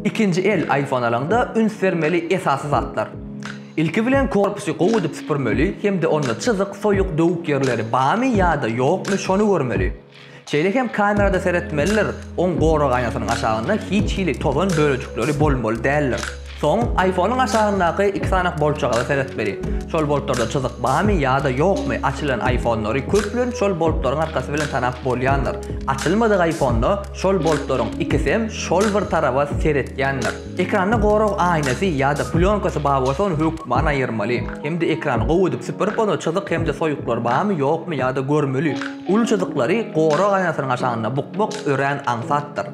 Ikinji el iPhone alaňda üns bermeli esasy zatlar. Ilki bilen korpusy gowy edip süpürmeli hem-de onda çyzyk, soýuk, döwük ýerleri bamy ýa-da ýokmy şony görmeli. Şeýle hem kamerada seretmelidir, oň gorag aýnasynyň aşagynda hiç hili tozan bölejikleri bolmaly däldir. Soň iPhone-yň aşagyndaky iki sany boltjagaza seretmeli. Şol boltlarda çyzyk barmy ýa-da ýokmy açylan iPhone-lary köplenç şol boltlaryň arkassy bilen tanap bolýandyr. Açylmadyk iPhone-da şol boltlaryň ikisem şol bir taraba seretýändir. Ekranda gorag aýnasy ýa-da plýonkasy bar bolsa ony hökman aýyrmaly. Hem-de ekrany gowy edip süpürip onda çyzyk hem-de soýuklar barmy ýokmy ýa-da görmeli. Uly çyzyklary gorag aýnasynyň aşagynda bukmak örän aňsatdyr.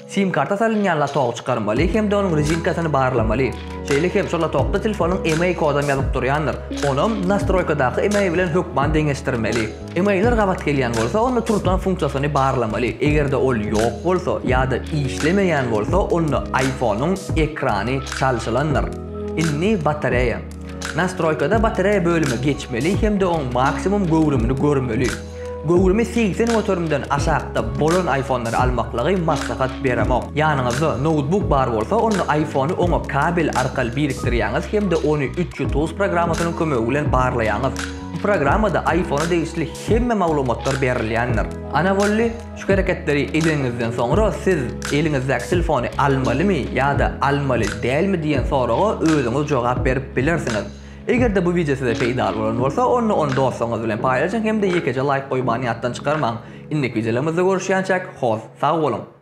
Sim karta salynýan lotok çykarmaly hem-de onuň rezinkasyny barlamaly. Şeýle hem şol lotokda telefonyň email kodam ýazyp durýandyr. Onam nastroýkadaky email bilen hökman deňeşdirmeli. Emailler gabat gelýän bolsa onda turtan funksiýasyny barlamaly. Eger-de ol ýok bolsa ýa-da işlemeýän bolsa onda iPhone-yň ekrany çalşylandyr. Indi batareýa. Nastroýkada batareýa bölüme geçmeli hem-de oň maksimum göwrümini görmeli. Göwrümi segsen göterimden aşakda bolan iPhone-lary almaklygy maslahat beremok. Ýanyňyzda noutbuk bar bolsa, onda iPhone-y oňa kabel arkaly birikdirýäňiz hem-de ony Ututus programmasynyň kömegi bilen barlaýaňyz. Bu programmada iPhone-a degişli hemme maglumatlar berilýändir. Ana boldy, şu hereketleri edeniňizden soňra siz eliňizdäki telefony almalymy ýa-da almaly dälmi diýen soraga özüňiz jogap berip bilersiňiz. Eger-de bu wideo size peýdaly bolan bolsa, onda ony dostlaryňyz bilen paýlaşyň hem-de ýekeje laýk goýmany ýatdan çykarmaň. Indiki wideolarymyzda görüşýänçäk, hoss, sag boluň!